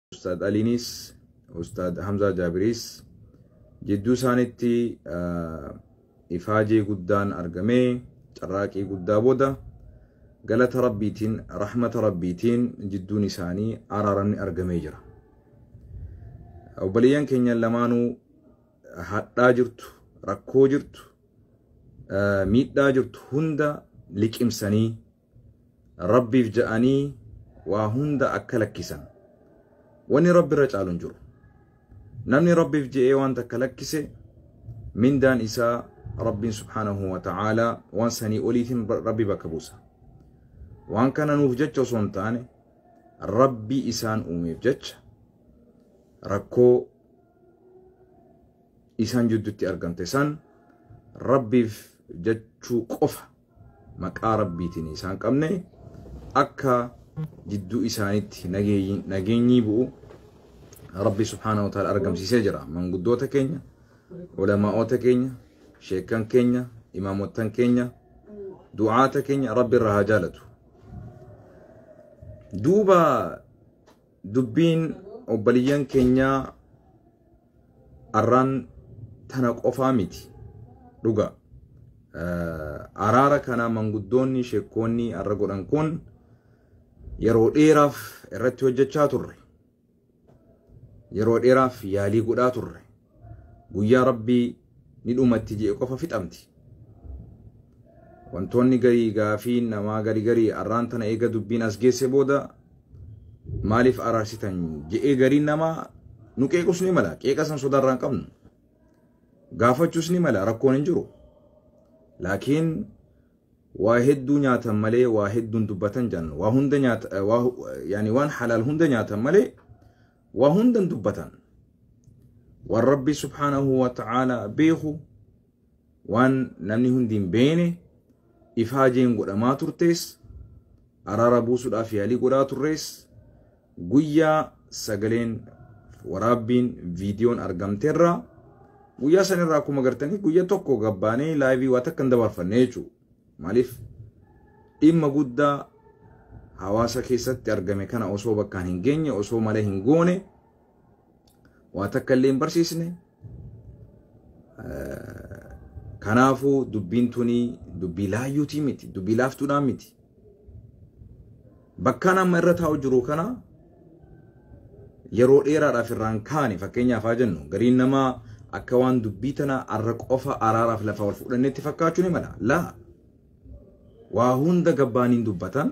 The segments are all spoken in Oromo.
Ustaad Aliinis Ustaad Hamzaa Jaabiriis jidduu isaanitti ifaajee guddaan argamee carraaqii guddaa booda galata rabbiitiin rahmata rabbiitiin jidduun isaanii araaramni argamee jira. Obboleeyyan keenya lamaanuu hadhaa jirtu, rakkoo jirtu, miidhaa jirtu hunda liqimsanii Rabbiif ja'anii waa hunda akka lakkisan. Wanni Rabbi irra caalu hin jiru. Namni Rabbiif je'ee waan takka lakkise mindaan isaa Rabbiin subhaanahu wa ta'aalaa waan sanii oliitiin Rabbi bakka buusa. Waan kana nuuf jecha osoo hin taane Rabbi isaan uumeef jecha rakkoo isaan jidduutti argamte san Rabbiif jechuu qofa maqaa rabbiitiin isaan qabne akka jidduu isaanitti nageenyii bu'u rabbi subhaana wa ta'ala argamsiisee jira manguddoota keenya ulamaa'oota keenya sheekan keenya imaamottan keenya du'aata keenya rabbi irraa haa jaalatu duuba Dubbiin obbaliyyan keenyaa arraan tana qofaa miti dhuga. Araara kana manguddoonni sheekkoonni arra godhan kun yeroo dheeraaf irratti hojjechaa turre. Yeroo dheeraaf yaalii godhaa turre. guyyaa rabbii ni dhumatti je'e qofa fixamti wantoonni garii gaafii namaa gari garii arraan tana eega dubbiin as geesse booda maaliif araarsitan je'ee garii namaa nu qeequs ni mala qeeqa san sodaarraan qabnu gaafachuus ni mala rakkoon hin jiru laakiin waa hedduu nyaatan malee waa hedduun dubbatan jedhan waa hunda nyaata waa yani waan halaal hunda nyaatan malee Waa hundan dubbatan. Waan Rabbi subhaanahu wa ta'aalaa beeku, waan namni hundi hin beene, ifaajeen godhamaa turtees, araara buusuudhaaf yaalii godhaa turrees, guyyaa sagaleen waraabbiin viidiyoon argamteerraa guyyaa sanirraa akkuma gartanii guyya tokko gabbaanee laayivii waa takka hin dabarfanne jechuudha. Maaliif dhimma guddaa hawaasa keessatti argame kana osoo bakkaan hin geenye osoo malee hin goone waa takka illee hin barsiisne kanaafuu dubbiin tuni dubbii laayyuutii miti dubbii laaftuudhaan miti Bakkaan amma irra taa'u jiru kana yeroo dheeraadhaaf irraan kaane fakkeenyaaf haa jennu gariin namaa akka waan dubbii tana arra qofa araaraaf lafa wal fudhannetti fakkaachuu ni mala. Laa waa hunda gabbaaniin dubbatan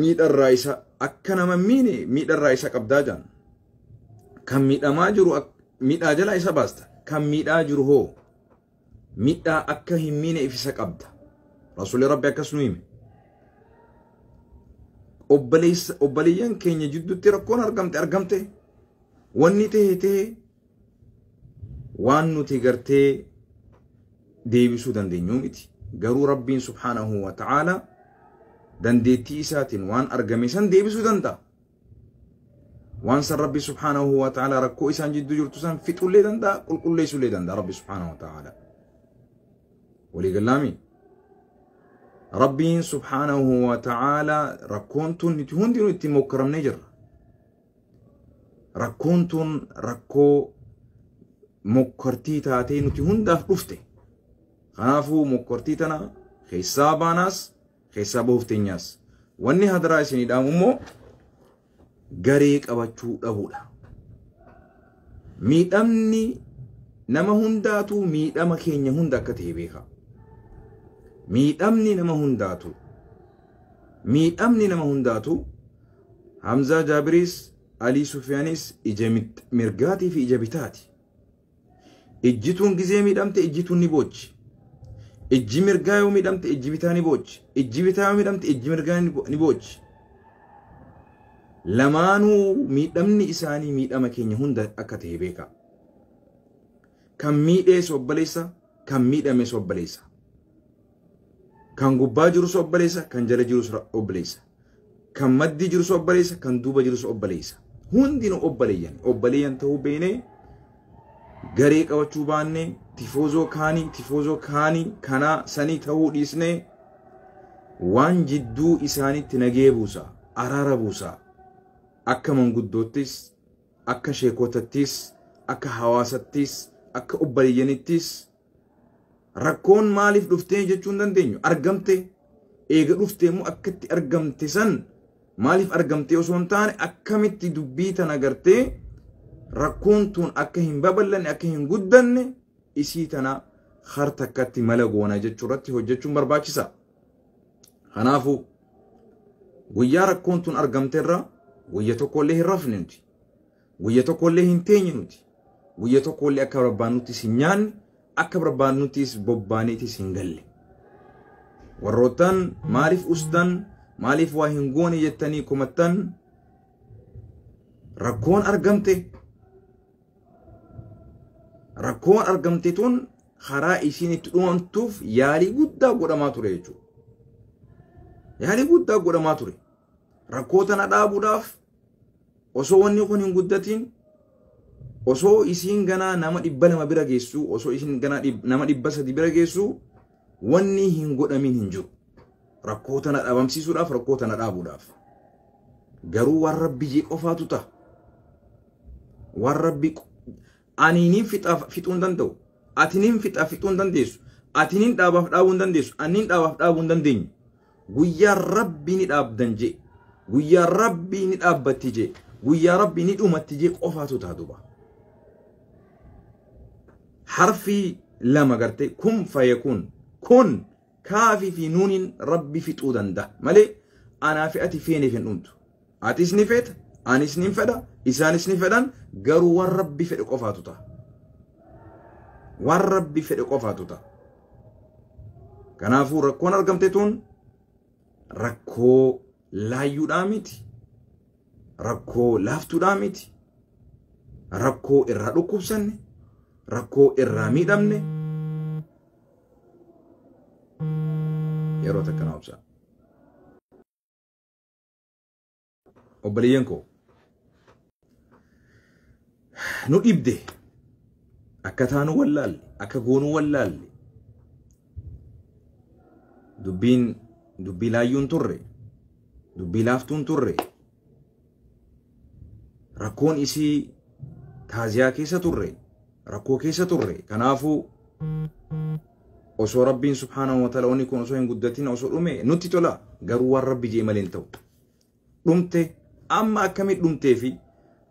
miidharraa isa akka nama miine miidharraa isa qabdaa jaan kan miidhamaa jiru miidhaa jalaa isa baasta kan miidhaa jiru hoo miidhaa akka hin miine ifisa qabda rasuulli rabbi akkas nu hime obboleeyyan keenya jidduutti rakkoon argamte argamte wanni ta'e ta'e waan nuti gartee deebisuu dandeenyu miti garuu rabbiin subhaanahu wa ta'aala dandeettii isaatiin waan argame san deebisuu danda'a waan san rabbi subhaanahu wa ta'aala rakkoo isaan jidduu jirtu san fixullee danda'a qulqulleessullee danda'a rabbi subhaanahu wa ta'aala waliigallaami rabbiin subhaanahu wa ta'aala rakkoon tun nuti hundinuu ittiin mokkaramnee jirra Rakkoon tun rakkoo mokkortii taatee nuti hundaaf dhufte. Kanaafuu mokkortii tana keessaa baanaas keessaa bahuuf teenyaas. Wanni hadaraa isinii dhaamu immoo garee qabachuu dhabuudha. Miidhamni nama hundaatuu miidhama keenya hunda akka ta'e beeka. Miidhamni nama hundaatuu miidhamni nama hundaatuu Hamzaa Jaabiriis Alii Sufiyaanis ija mirgaatii fi ija bitaati. Ijjituun gizee miidhamte ijjituun ni boochi. Ijji mirgaa yoo miidhamte ijji bitaa ni boochi. Ijji bitaa yoo miidhamte ijji mirgaa ni boochi. Lamaanuu miidhamni isaanii miidhama keenya hunda akka ta'e beekaa. Kan miidhee sobbaleessa, kan miidhame sobbaleessa. Kan gubbaa jirus obboleessa, kan jala jirus obboleessa. Kan maddii jirus obboleessa, kan duuba jirus obboleessa. Hundinuu obboleeyyan. Obboleeyyan ta'uu beeknee garee qabachuu baannee tifoozoo kaanii, tifoozoo kaanii, kanaa sanii ta'uu dhiisnee waan jidduu isaanitti nagee buusa, araara buusa. Akka manguddoottis, akka sheekotattis, akka hawaasattis, akka obboleeyyanittis Rakkoon maaliif dhuftee jechuu hin dandeenyu. Argamte eega dhuftee immoo akka itti argamte san maaliif argamtee osoo hin taane akkamitti dubbii tana gartee rakkoon tun akka hin babal'anne akka hin guddanne isii tana har takkatti mala goona jechuu irratti hojjechuun barbaachisa. Kanaafuu guyyaa rakkoon tun argamterra guyya tokkollee hin rafne nuti. Guyya tokkollee hin teenyu nuti. Guyya tokkollee akka barbaannuttis hin nyaanne, akka barbaannuttis bobbaaneetis hin galle. Warroottan maaliif ustan, maaliif waa hin goone jettanii komattan rakkoon argamte. Rakkoon argamte tun karaa isiin itti dhumamtuuf yaalii guddaa godhamaa ture jechuudha. Yaalii guddaa godhamaa ture. Rakkoo tana dhaabuudhaaf osoo wanni kun hin guddatiin osoo isiin ganaa nama dhibba lama bira geessuu osoo isiin ganaa dhib- nama dhibba sadi bira geessuu wanni hin godhamiin hin jiru rakkoo tana dhabamsiisuudhaaf rakkoo tana dhaabuudhaaf garuu waan rabbi jee qofaatu ta'a waan rabbi Ani nin fixa fixuu hin danda'u. Ati nin fixa fixuu hin dandeessu. Ati nin dhaabaaf dhaabuu hin dandeessu. Ani nin dhaabaaf dhaabuu hin dandeenyu. Guyyaa rabbii ni dhaabdan jee. Guyyaa rabbii ni dhaabbatti jee. Guyyaa rabbii ni dhumatti jee qofaatu ta'a duuba. Harfii lama gartee kun faye kun kun Kaafii fi nuuniin rabbi fixuu danda'a malee anaa fi ati feeneef hin dhumtu. Atis ni feeta, anis ni fedha, isaanis ni fedhan garuu waan rabbi fedhe qofaatu ta'a. Waan rabbi fedhe qofaatu ta'a. Kanaafuu rakkoon argamte tun rakkoo laayyuudhaa miti. Rakkoo laaftuudhaa miti. Rakkoo irraa dhukkubsanne, rakkoo irraa miidhamne, yeroo takka na obsaa. Obboleeyyan koo nu dhibde akka taanu wallaalle akka goonu wallaalle dubbiin dubbii laayyuun turre dubbii laaftuun turre rakkoon isii taaziyaa keessa turre rakkoo keessa turre kanaafuu osoo rabbiin subhaanahu wa ta'ala wanni kun osoo hin guddatin osoo dhume nutti tola garuu waan rabbi jee malee hin ta'u dhumte amma akkamit dhumtee fi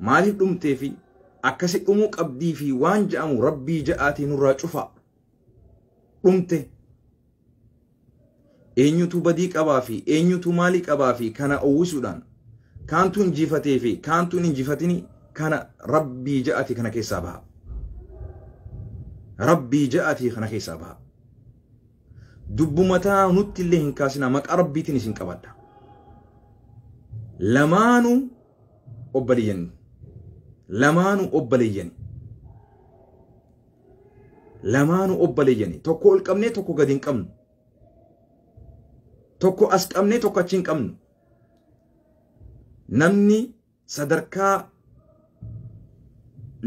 maaliif dhumtee fi akkasi dhumuu qabdii fi waan ja'amu rabbii ja'aatii nurraa cufaa dhumte eenyutu badii qabaa fi eenyutu maalii qabaa fi kana uwwisuudhaan kaantu injifatee fi kaantu hin injifatini kana rabbii ja'atii kana keessaa baha rabbii ja'atii kana keessaa baha dubbumataa nutti illee hin kaasinaa maqaa rabbiitiin isin qabadha lamaanuu obboleeyyanii lamaanuu obboleeyyanii lamaanu obbale jani tokko ol qabnee tokko gadi hin qabnu tokko as qabnee tokko achi hin qabnu namni sadarkaa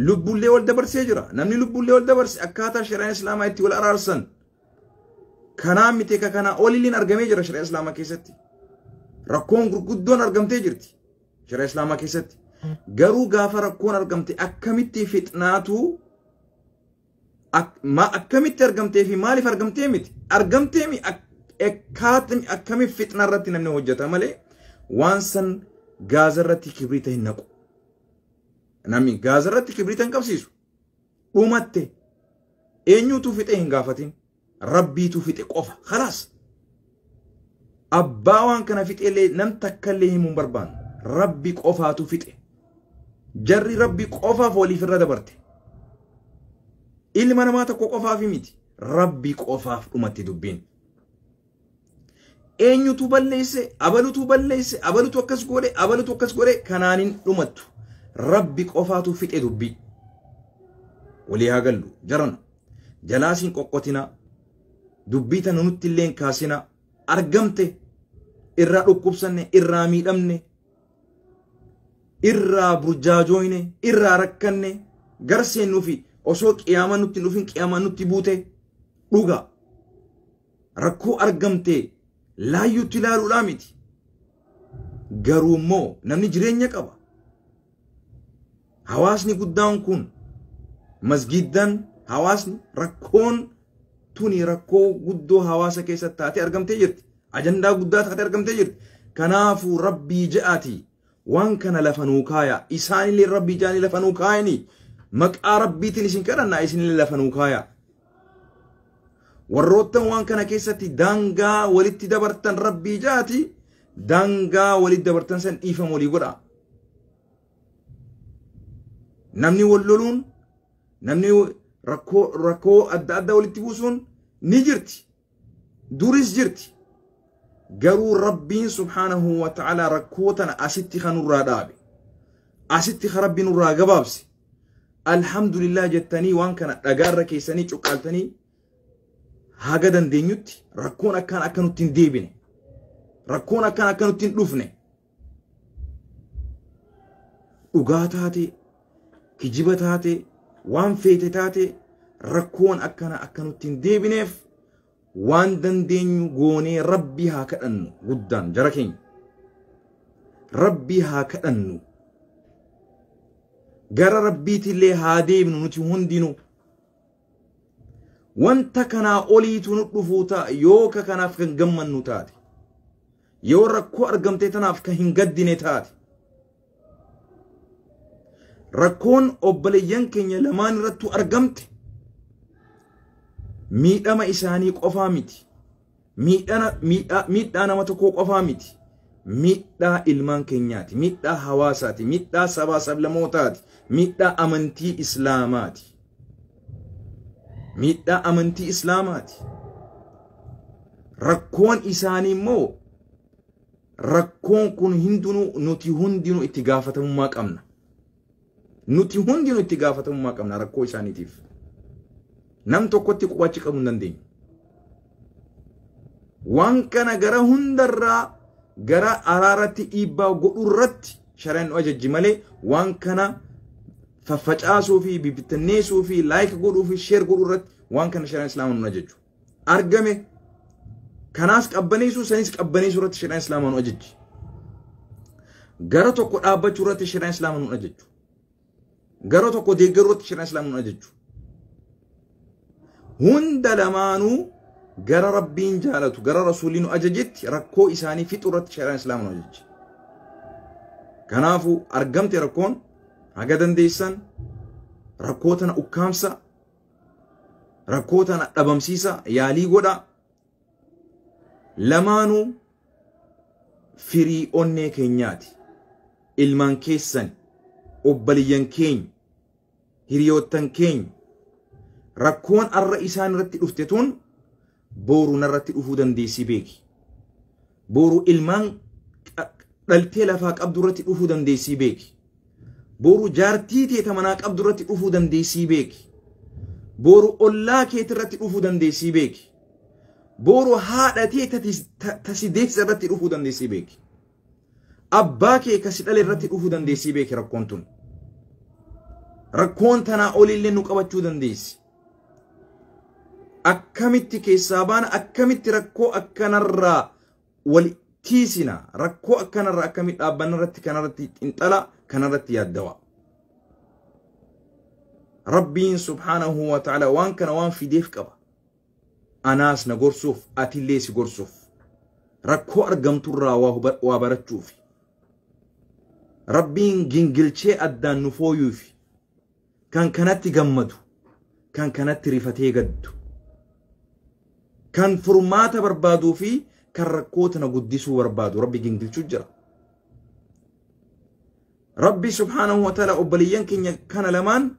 lubbullee wal dabarsee jira namni lubbullee wal dabarse akkaataa shari'aan islaamaa itti wal araarsan kanaa miti ka kanaa olilleen argamee jira shari'aa islaamaa keessatti rakkoon gurguddoon argamtee jirti Shari'a Islaamaa keessatti. Garuu gaafa rakkoon argamte akkamitti fixnaatu ak- ma- akkamitti argamtee fi maaliif argamtee miti argamtee mi ak- akkaatni akkamiif fixna irratti namni hojjeta malee waan san gaaza irratti kibriita hin naqu. Namni gaaza irratti kibriita hin qabsiisu. Dhumatte eenyutu fixee hin gaafatin. rabbiitu fixe qofa khalaas abbaa waan kana fixeellee nam takkallee himuun barbaannu rabbi qofaatu fixe jarri rabbi qofaaf waliif irra dabarte ilma namaa tokko qofaaf miti rabbi qofaaf dhumatti dubbiin eenyutu balleesse abalutu balleesse abalutu akkas godhe abalutu akkas godhe kanaan hin dhumattu rabbi qofaatu fixe dubbii walii haa gallu jarana jalaasiin qoqqotina dubbii tana nutti illeen kaasina argamte irraa dhukkubsanne irraa miidhamne irraa burjaajooyne irraa rakkanne gara seennuufi osoo qiyaamaa nutti hin dhufin qiyaamaa nutti buute dhugaa rakkoo argamtee laayyuutti ilaaluudhaa miti. Garuu immoo namni jireenya qaba. Hawaasni guddaan kun masgiiddaan hawaasni rakkoon tuni rakkoo guddoo hawaasa keessatti taatee argamtee jirti. Ajandaa guddaa taatee argamtee jirti. Kanaafuu rabbii ja'atii. waan kana lafa nuu kaaya isaanillee rabbii jaanii lafa nuu kaayanii maqaa rabbiitiin isin kadhannaa isinillee lafa nuu kaaya warroottan waan kana keessatti daangaa walitti dabartan rabbii jaati daangaa walitti dabartan san dhiifama walii godha namni wal loluun namni rakkoo rakkoo adda addaa walitti buusuun ni jirti Duris jirti. Garuu Rabbiin subhaanahu wa ta'ala rakkoo tana asitti kan nurraa dhaabe. Asitti kan Rabbi nurraa gabaabse. Alhamdulillah jettanii waan kana dhagaarra keessanii cuqqaaltanii haga dandeenyutti rakkoon akkaan akka nutti hin deebine. Rakkoon akkaan akka nutti hin dhufne. dhugaa taatee kijiba taatee waan feete taatee rakkoon akkana akka nutti hin deebineef waan dandeenyu goonee rabbii haa kadhannu guddaan jara keenya rabbii haa kadhannu gara rabbiitillee haa deebinu nuti hundinuu wanta kanaa oliitu nu dhufuu ta'a yoo ka kanaaf kan gammannu taate Yoo rakkoo argamtee tanaaf kan hin gaddine taate. Rakkoon obboleeyyan keenya lamaan irrattuu argamte miidhama isaanii qofaa miti. Miidhaa nama tokkoo qofaa miti. Miidhaa ilmaan keenyaati. Miidhaa hawaasaati. Miidhaa sabaa sablamootaati. Miidhaa amantii islaamaati. miidhaa amantii islaamaati rakkoon isaanii immoo rakkoon kun hundinuu nuti hundinuu itti gaafatamummaa qabna nuti hundinuu itti gaafatamummaa qabna rakkoo isaaniitiif nam tokkotti qubachi qabuu hin dandeenyu waan kana gara hundarraa gara araaratti dhiibbaa godhurratti shari'aan nu ajajji malee waan kana faffacaasuu fi bibittanneessuu fi laayik godhuu fi sheer godhuu irratti waan kana shari'aan islaamaa nu ajajju. Argame kanaas qabbaneessuu sanis qabbaneessuu irratti shari'aan islaamaa nu ajajji. Gara tokko dhaabbachuu irratti shari'aan islaamaa nu ajajju. Gara tokko deeggaruu irratti shari'aan islaamaa nu ajajju. hunda lamaanuu gara rabbiin jaalatu gara rasuulli nu ajajetti rakkoo isaanii fixu irratti shari'aan islaama nu ajajje kanaafuu argamte rakkoon haga dandeessan rakkoo tana ukkaamsa rakkoo tana dhabamsiisa yaalii godha lamaanuu firii onnee keenyaati ilmaan keessan obbaliyyan keenya hiriyoottan keenya rakkoon arra isaan irratti dhufte tun booru narratti dhufuu dandeessii beeki. Booru ilmaan dhaltee lafaa qabdu irratti dhufuu dandeessii beeki. Booru jaartii teeta manaa qabdu irratti dhufuu dandeessii beeki. Booru ollaa keeti irratti dhufuu dandeessii beeki. Booru haadha teeta tasi deessisa irratti dhufuu dandeessii beeki. Abbaa kee ka si dhale irratti dhufuu dandeessii beeki rakkoon tun. Rakkoon tanaa oliillee nu qabachuu dandeessi. Akkamitti keessaa baana akkamitti rakkoo akkanarraa wal tiisina rakkoo akkanarraa akkamitti dhaabbanna irratti kanarratti xinxala kanarratti yaaddawa. Rabbiin subhaanahu wa ta'ala waan kana waan fideef qaba. Anaas na gorsuuf, atillee si gorsuuf. Rakkoo argamturraa waa huba- waa barachuufi. Rabbiin gingilchee addaan nu fooyuufi. Kan kanatti gammadu, kan kanatti rifatee gaddu. Kan furmaata barbaaduu fi kan rakkoo tana guddisuu barbaadu Rabbi gingilchuu jira. Rabbi subhaanahu wa ta'ala obboleeyyan keenya kana lamaan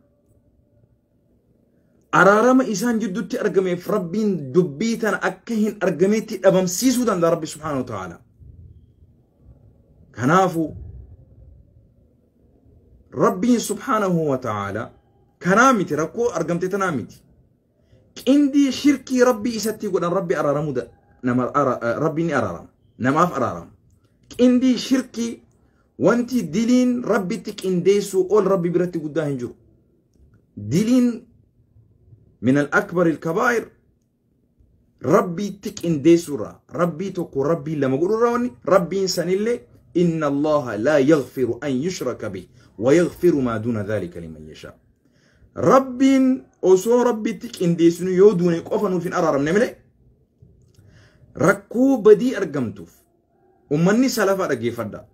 araarama isaan jidduutti argameef rabbiin dubbii tana akka hin argameetti dhabamsiisuu danda'a rabbi subhaanahu wa ta'ala kanaafu rabbiin subhaanahu wa ta'ala kanaa miti rakkoo argamte tanaa miti qindii shirkii rabbii isatti godhan rabbi araaramu nama rabbi ni araarama namaaf araarama qindii shirkii wanti diliin rabbitti qindeessuu ol rabbi biratti guddaa hin jiru diliin min al akbar il kabaa'ir rabbiitti qindeessuurraa rabbii tokko rabbii lama godhurraa wanni rabbiin sanillee inna allaha laa yaghfiru an yushraka bih wa yaghfiru maa duuna dhaalika liman yashaa rabbiin osoo rabbiitti qindeessinu yoo duune qofa nuuf hin araaramne malee rakkoo badii argamtuuf ummanni salafaa dhaggeeffadhaa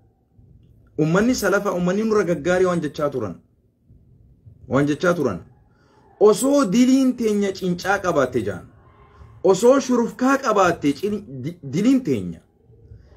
ummanni salafa ummanni nurra gaggaarii waan jechaa turan waan jechaa turan osoo diliin teenya cincaa qabaatte jaan osoo shurufkaa qabaatte diliin teenya